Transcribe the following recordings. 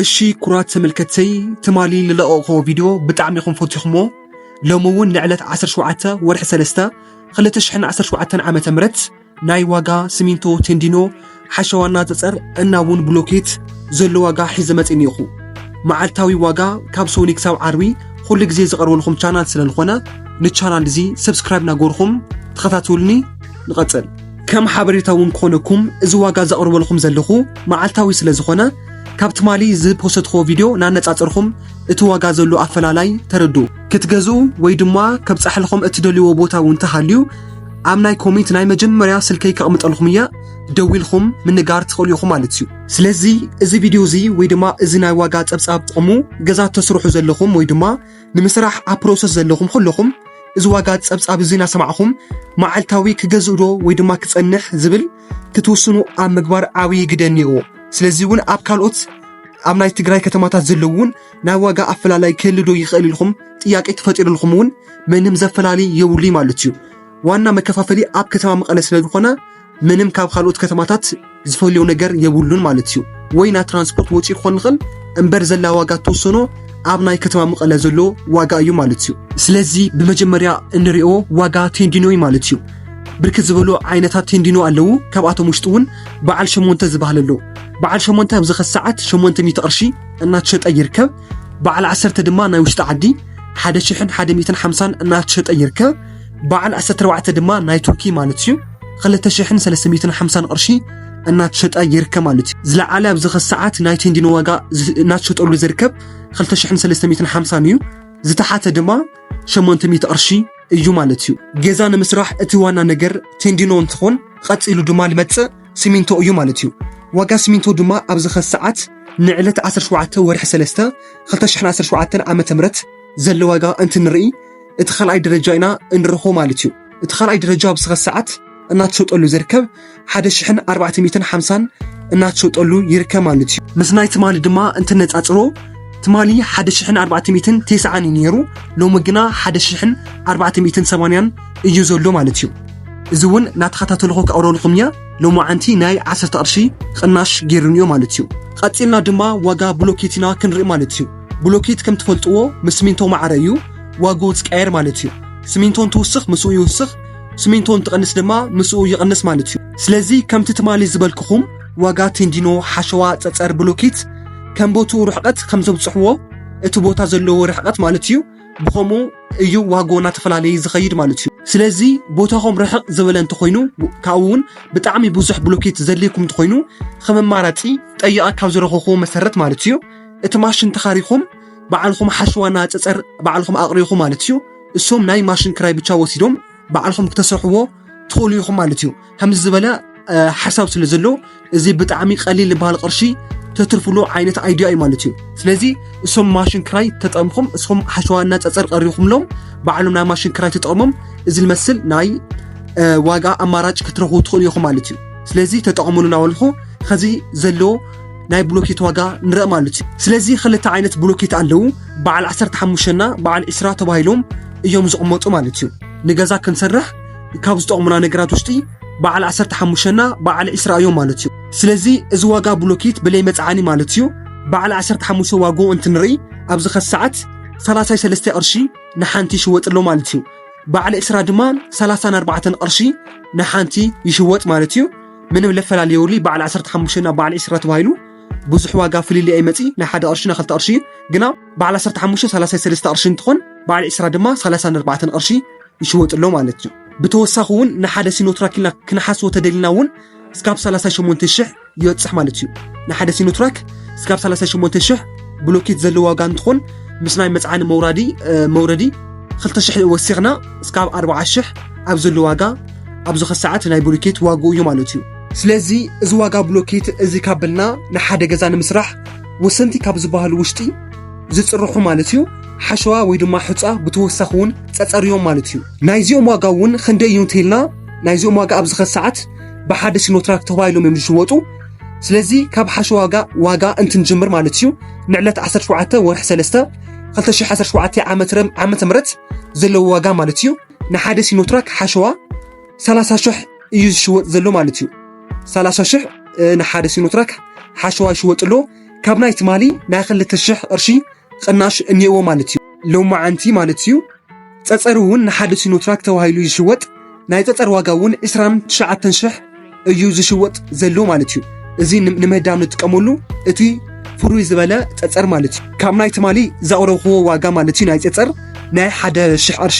እሺ ኩራት ተመልከትተይ ትማሊ ልለቐቕኹዎ ቪድዮ ብጣዕሚ ኢኹም ፈቲኹምዎ ሎሚ እውን ንዕለት ዓሰርተ ሸውዓተ ወርሒ ሰለስተ ክልተ ሽሕን ዓሰርተ ሸውዓተን ዓመተ ምህረት ናይ ዋጋ ስሚንቶ ቴንዲኖ ሓሸዋና ፀፀር እና እውን ብሎኬት ዘሎ ዋጋ ሒዘ መፂእ እኒኦኹ መዓልታዊ ዋጋ ካብ ሶኒ ክሳብ ዓርቢ ኩሉ ግዜ ዝቐርበልኹም ቻናል ስለዝኾነ ንቻናል እዚ ሰብስክራይብ ናገርኹም ተኸታተሉኒ ንቐፅል ከም ሓበሬታ እውን ክኾነኩም እዚ ዋጋ ዘቕርበልኹም ዘለኹ መዓልታዊ ስለዝኾነ ካብ ትማሊ ዝፖሰትክዎ ቪድዮ ናነጻጸርኩም እቲ ዋጋ ዘሎ ኣፈላላይ ተረድኡ። ክትገዝኡ ወይ ድማ ከብጻሕልኹም እትደልይዎ ቦታ እውን እንተሃልዩ ኣብ ናይ ኮሜንት ናይ መጀመርያ ስልከይ ከቕምጠልኩም እየ ደዊልኩም ምንጋር ትኽእሉ ኢኹም ማለት እዩ። ስለዚ እዚ ቪድዮ እዚ ወይ ድማ እዚ ናይ ዋጋ ጸብጻብ ጥቕሙ ገዛ እተስርሑ ዘለኹም ወይ ድማ ንምስራሕ ኣብ ፕሮሰስ ዘለኹም ኩለኹም እዚ ዋጋ ጸብጻብ እዚ እናሰማዕኹም መዓልታዊ ክገዝእዶ ወይ ድማ ክጸንሕ ዝብል ክትውስኑ ኣብ ምግባር ዓብዪ ግደ እኒኦ ስለዚ እውን ኣብ ካልኦት ኣብ ናይ ትግራይ ከተማታት ዘለዉ እውን ናይ ዋጋ ኣፈላላይ ክህሉ ዶ ይኽእል ኢልኩም ጥያቄ ተፈጢሩልኩም እውን ምንም ዘፈላሊ የብሉ ማለት እዩ ዋና መከፋፈሊ ኣብ ከተማ መቐለ ስለ ዝኾነ ምንም ካብ ካልኦት ከተማታት ዝፈልዮ ነገር የብሉን ማለት እዩ ወይ ናይ ትራንስፖርት ወጪ ክኾን ንኽእል እምበር ዘላ ዋጋ ተወሰኖ ኣብ ናይ ከተማ መቐለ ዘሎ ዋጋ እዩ ማለት እዩ ስለዚ ብመጀመርያ እንሪኦ ዋጋ ቴንዲኖ እዩ ማለት እዩ ብርክት ዝበሉ ዓይነታት ቴንዲኖ ኣለዉ ካብኣቶም ውሽጢ እውን በዓል ሸሞንተ ዝበሃል ኣሎ በዓል ሸሞንተ ኣብዚ ኸዚ ሰዓት ሸሞንተ ሚእቲ ቅርሺ እናተሸጠ ይርከብ በዓል ዓሰርተ ድማ ናይ ውሽጢ ዓዲ ሓደ ሽሕን ሓደ ሚእትን ሓምሳን እናተሸጠ ይርከብ በዓል ዓሰርተ ኣርባዕተ ድማ ናይ ቱርኪ ማለት እዩ ክልተ ሽሕን ሰለስተ ሚእትን ሓምሳን ቅርሺ እናተሸጠ ይርከብ ማለት እዩ ዝለዓለ ኣብዚ ኸዚ ሰዓት ናይ ቴንዲኖ ዋጋ ዝ- እናተሸጠሉ ዝርከብ ክልተ ሽሕን ሰለስተ ሚእትን ሓምሳን እዩ ዝተሓተ ድማ ሸሞንተ ሚእቲ ቅርሺ እዩ ማለት እዩ። ገዛ ንምስራሕ እቲ ዋና ነገር ቴንዲኖ እንትኾን ቐፂሉ ድማ ልመፅእ ሲሚንቶ እዩ ማለት እዩ። ዋጋ ሲሚንቶ ድማ ኣብዚ ኸዚ ሰዓት ንዕለት 17 ወርሒ 3 2017 ዓ ም ዘሎ ዋጋ እንትንርኢ እቲ ካልኣይ ደረጃ ኢና እንረኽቦ ማለት እዩ። እቲ ካልኣይ ደረጃ ኣብዚ ኸዚ ሰዓት እናተሸጠሉ ዝርከብ ሓደ ሽሕን ኣርባዕተ ሚእትን ሓምሳን እናተሸጠሉ ይርከብ ማለት እዩ ምስ ናይ ትማሊ ድማ እንትነፃፅሮ ትማሊ ሓደ ሽሕን ኣርባዕተ ሚእትን ቴስዓን እዩ ነይሩ ሎሚ ግና ሓደ ሽሕን ኣርባዕተ ሚእትን ሰማንያን እዩ ዘሎ ማለት እዩ እዚ እውን እናተኸታተልኹ ከቕረልኹም እያ ሎማዓንቲ ናይ ዓሰርተ ቅርሺ ቕናሽ ገይሩን እዩ ማለት እዩ ቐፂልና ድማ ዋጋ ብሎኬት ኢና ክንርኢ ማለት እዩ ብሎኬት ከም ትፈልጥዎ ምስ ሲሚንቶ ማዕረ እዩ ዋግኡ ዝቀየር ማለት እዩ ሲሚንቶ እንትውስኽ ምስኡ ይውስኽ ስሚንቶ እንትቐንስ ድማ ምስኡ ይቕንስ ማለት እዩ ስለዚ ከምቲ ትማሊ ዝበልክኹም ዋጋ ቴንዲኖ ሓሸዋ ፀፀር ብሎኬት ከም ቦትኡ ርሕቐት ከም ዘብፅሕዎ እቲ ቦታ ዘለዎ ርሕቐት ማለት እዩ ብኸምኡ እዩ ዋጎ እናተፈላለየ ዝኸይድ ማለት እዩ ስለዚ ቦታኹም ርሕቕ ዝበለ እንተኾይኑ ካብኡ እውን ብጣዕሚ ብዙሕ ብሎኬት ዘድልየኩም እንተኾይኑ ከም ኣማራፂ ጠይቐ ካብ ዝረኸኹዎ መሰረት ማለት እዩ እቲ ማሽን ተኻሪኹም ባዕልኹም ሓሸዋና ፀፀር ባዕልኹም ኣቕሪኹ ማለት እዩ እሶም ናይ ማሽን ክራይ ብቻ ወሲዶም ባዕልኹም ክተሰርሕዎ ትኽእሉ ኢኹም ማለት እዩ ከምዚ ዝበለ ሓሳብ ስለ ዘሎ እዚ ብጣዕሚ ቀሊል ዝበሃል ቅርሺ ተትርፍሉ ዓይነት ኣይዲያ እዩ ማለት እዩ ስለዚ እሶም ማሽን ክራይ ተጠምኹም እስኹም ሓሸዋና ፀፀር ቀሪኹምሎም ባዕሎም ናይ ማሽን ክራይ ተጠቕሞም እዚ ዝመስል ናይ ዋጋ ኣማራጭ ክትረኽቡ ትኽእሉ ኢኹም ማለት እዩ ስለዚ ተጠቕሙሉ ናበልኹ ከዚ ዘሎ ናይ ብሎኬት ዋጋ ንርኢ ማለት እዩ ስለዚ ክልተ ዓይነት ብሎኬት ኣለዉ በዓል 15 እና በዓል 20 ተባሂሎም እዮም ዝቕመጡ ማለት እዩ ንገዛ ክንሰርሕ ካብ ዝጠቕሙና ነገራት ውሽጢ በዓል 15 እና በዓል 20 እዮም ማለት እዩ ስለዚ እዚ ዋጋ ብሎኬት ብለይ መፅዓኒ ማለት እዩ በዓል 15 ዋግኡ እንትንርኢ ኣብዚ ከ ሰዓት 33 ቅርሺ ንሓንቲ ይሽወጥ ኣሎ ማለት እዩ በዓል 20 ድማ 34 ቅርሺ ንሓንቲ ይሽወጥ ማለት እዩ ምንም ለፈላለ የብሉይ በዓል ዓሰርተ ሓሙሽተ ናብ በዓል ዒስራ ተባሂሉ ብዙሕ ዋጋ ፍልልይ ኣይመጺ ናይ ሓደ ቅርሺ ናይ ክልተ ቅርሺ ግና በዓል ዓሰርተ ሓሙሽተ ሰላሳይ ሰለስተ ቅርሺ እንትኾን በዓል ዒስራ ድማ ሰላሳን ኣርባዕተን ቅርሺ ይሽወጥ ኣሎ ማለት እዩ ብተወሳኺ እውን ንሓደ ሲኖትራክ ኢልና ክንሓስቦ ተደሊና እውን እስካብ 38 ሽሕ ይበፅሕ ማለት እዩ ንሓደ ሲኖትራክ እስካብ 38 ሽሕ ብሎኬት ዘለዎ ዋጋ እንትኾን ምስ ናይ መፅዓኒ መውራዲ መውረዲ 2 ሽሕ ወሲኽና እስካብ 40 ሽሕ ኣብ ዘሎ ዋጋ ኣብዚ ከሰዓት ናይ ብሎኬት ዋግኡ እዩ ማለት እዩ ስለዚ እዚ ዋጋ ብሎኬት እዚ ካብ በልና ንሓደ ገዛ ንምስራሕ ወሰንቲ ካብ ዝበሃሉ ውሽጢ ዝፅርሑ ማለት እዩ ሓሸዋ ወይ ድማ ሕፃ ብተወሳኺ እውን ፀፀር እዮም ማለት እዩ ናይዚኦም ዋጋ እውን ክንደይ እዩ እንተይልና ናይዚኦም ዋጋ ኣብዚ ከሰዓት ብሓደ ሲኖትራክ ተባሂሎም እዮም ዝሽወጡ ስለዚ ካብ ሓሸዋ ዋጋ ዋጋ እንትንጅምር ማለት እዩ ንዕለት 17 ወርሒ 3 2017 ዓመተ ምህረት ዘለዎ ዋጋ ማለት እዩ ንሓደ ሲኖትራክ ሓሸዋ 30 ሽሕ እዩ ዝሽወጥ ዘሎ ማለት እዩ 30 ሽሕ ንሓደ ሲኖትራክ ሓሸዋ ይሽወጥ ኣሎ ካብ ናይ ትማሊ ናይ ክልተ ሽሕ ቅርሺ ቅናሽ እኒኤዎ ማለት እዩ ሎማዓንቲ ማለት እዩ ፀፀር እውን ንሓደ ሲኖትራክ ተባሂሉ ይሽወጥ ናይ ፀፀር ዋጋ እውን 29 ሽሕ እዩ ዝሽወጥ ዘሎ ማለት እዩ እዚ ንምህዳም ንጥቀመሉ እቲ ፍሩይ ዝበለ ፀፀር ማለት እዩ ካብ ናይ ትማሊ ዘቕረብክዎ ዋጋ ማለት እዩ ናይ ፀፀር ናይ ሓደ ሽሕ ቅርሺ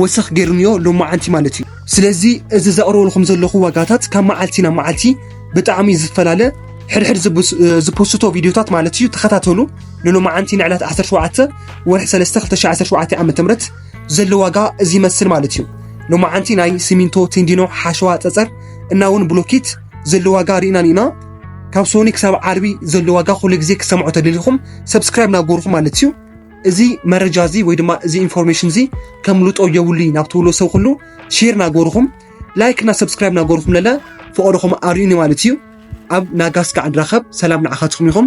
ወሰኽ ገይሩንዮ ሎማዓንቲ ማለት እዩ ስለዚ እዚ ዘቕረበልኩም ዘለኹ ዋጋታት ካብ መዓልቲ ናብ መዓልቲ ብጣዕሚ ዝፈላለ ሕድሕድ ዝፖስቶ ቪድዮታት ማለት እዩ ተኸታተሉ ንሎማዓንቲ ንዕለት 17 ወርሒ 3 2017 ዓ ም ዘሎ ዋጋ እዚ ይመስል ማለት እዩ። ሎማዓንቲ ናይ ሲሚንቶ፣ ቴንዲኖ፣ ሓሸዋ፣ ፀፀር እና እውን ብሎኬት ዘሎ ዋጋ ርኢናን ኢና። ካብ ሶኒ ክሳብ ዓርቢ ዘሎ ዋጋ ኩሉ ግዜ ክሰምዖ ተደሊኹም ሰብስክራይብ ናጎርኹ ማለት እዩ። እዚ መረጃ እዚ ወይ ድማ እዚ ኢንፎርሜሽን እዚ ከምልጦ የብሉ ናብ ትብሎ ሰብ ኩሉ ሼር ናጎርኹም ላይክ እና ሰብስክራይብ ናጎርኹም ለለ ፍቕርኹም ኣርእዩኒ ማለት እዩ። ኣብ ናጋስ ካዕ ንራኸብ ሰላም ንዓኻትኩም ይኹን።